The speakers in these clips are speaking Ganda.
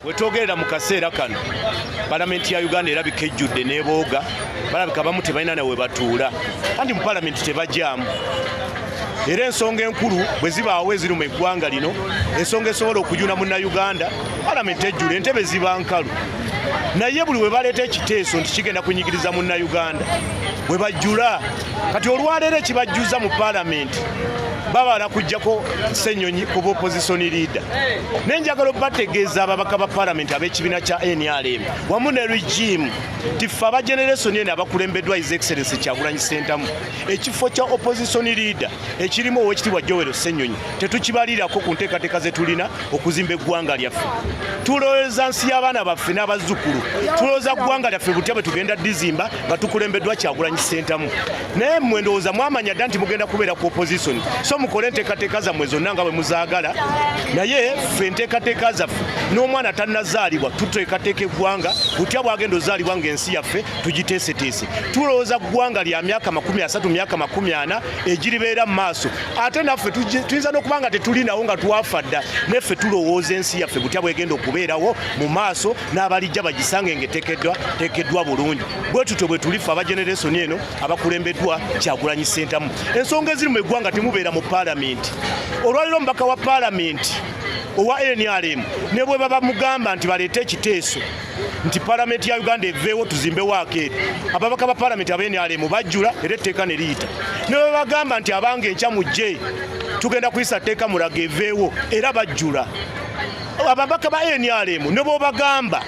wetwogerera mu kaseera kano palamenti ya uganda erabika ejjudde nebooga balabika bamu tebalina nawe batuula kandi mu palamenti tebajaamu era ensonga enkulu bwe zibaawo eziri mu eggwanga lino ensonga esobola okujuna munnauganda palamenti ejjula entebe ziba nkalu naye buli we baleeta ekiteeso nti kigenda kunyigiriza munnauganda bwe bajjula kati olwaleero ekibajjuza mu palamenti babala kujjako senyonyi kuba opposition leader naye njagala obategeeza ababaka ba palamenti ab'ekibiina kya nrm wamu ne regime tiffe aba generation eno abakulembeddwa his excellence kyagulanyi sentamu ekifo kya opposition leader ekirimu owekitibwa jowero senyonyi tetukibalirako ku nteekateeka zetulina okuzimba eggwanga lyaffe tulowooza nsi y'abaana baffe n'abazzukulu tulowooza ggwanga lyaffe butya bwe tugenda dizimba nga tukulembeddwa kyagulanyi sentamu naye mmwe ndowooza mwamanya dda nti mugenda kubeera ku opposition so mukole enteekateeka zammwe zonna nga bwe muzaagala naye ffe enteekateeka zaffe n'omwana tannazaalibwa tuteekateeka eggwanga butya bwagenda ozaalibwa ng'ensi yaffe tugiteeseteese tulowooza ggwanga lya myaka makumi asatu myaka makumi ana egiribeera mu maaso ate naffe tuyinza n'okuba nga tetulinawo nga twafa dda naye ffe tulowooza ensi yaffe butya bwegenda okubeerawo mu maaso n'abalijja bagisange ng'etekeddwa tekeddwa bulungi bwe tutyo bwe tulifa aba generation eno abakulembeddwa kyagulanyi sentamu ensonga eziri mu eggwanga temubeera mu palamenti olwaliro omubaka wa palamenti owa nrm ne bwe baba mugamba nti baleete ekiteeso nti palamenti ya uganda eveewo tuzimbe waakeeri ababaka ba palamenti aba nrm bajjula era etteeka ne liyita ne bwe bagamba nti abanga enkya mujje tugenda kuyisa tteeka mulaga eveewo era bajjula ababaka ba nrm ne bwobagamba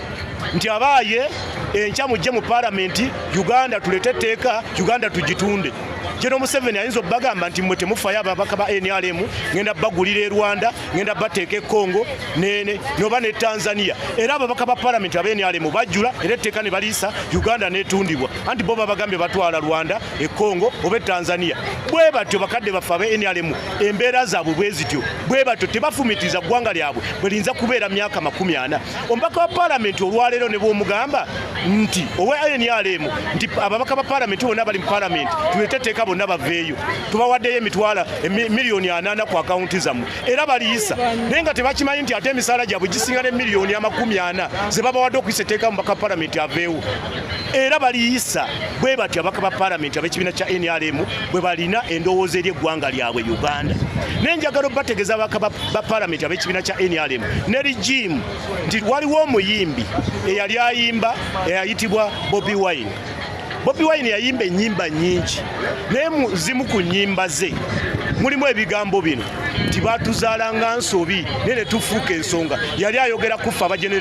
nti abaaye enkya mujje mu palamenti uganda tulete etteeka uganda tugitunde jeno museveni ayinza okubagamba nti mwe temufayo ababaka ba nrm ngenda bagulira e rwanda ngenda bateeka e congo nene noba ne tanzania era ababaka ba palamenti aba nrm bajjula era etteeka ne baliisa uganda netundibwa anti bo babagambye batwala rwanda e congo oba e tanzania bwe batyo bakadde baffe aba nrm embeera zaabwe bwe zityo bwe batyo tebafumitiriza ggwanga lyabwe bwe liyinza kubeera myaka makumi ana omubaka wa palamenti olwaleero ne bwomugamba nti owa nrm nti ababaka ba palamenti bonna bali mu palamenti tuleteteeka bonna baveeyo tubawaddeyo emitwala miliyoni anaana ku akawunti zammwe era baliyisa naye nga tebakimanyi nti ate emisaala gyabwe gisinga ne miliyoni amakumi ana ze babawadde okuyisa etteeka mubaka wa palamenti aveewo era baliyisa bwe batyo abaka ba palamenti ab'ekibiina kya nrm bwe balina endowooza eri eggwanga lyabwe uganda naye njagala obategeeza abaka ba palamenti ab'ekibiina kya nrm ne rigimu nti waliwo omuyimbi eyali ayimba eyayitibwa bobi wine bobi wine yayimba ennyimba nnyingi naye zimu ku nnyimba ze mulimu ebigambo bino nti baatuzaala nga nsobi naye ne tufuuka ensonga yali ayogera kuffe abagenera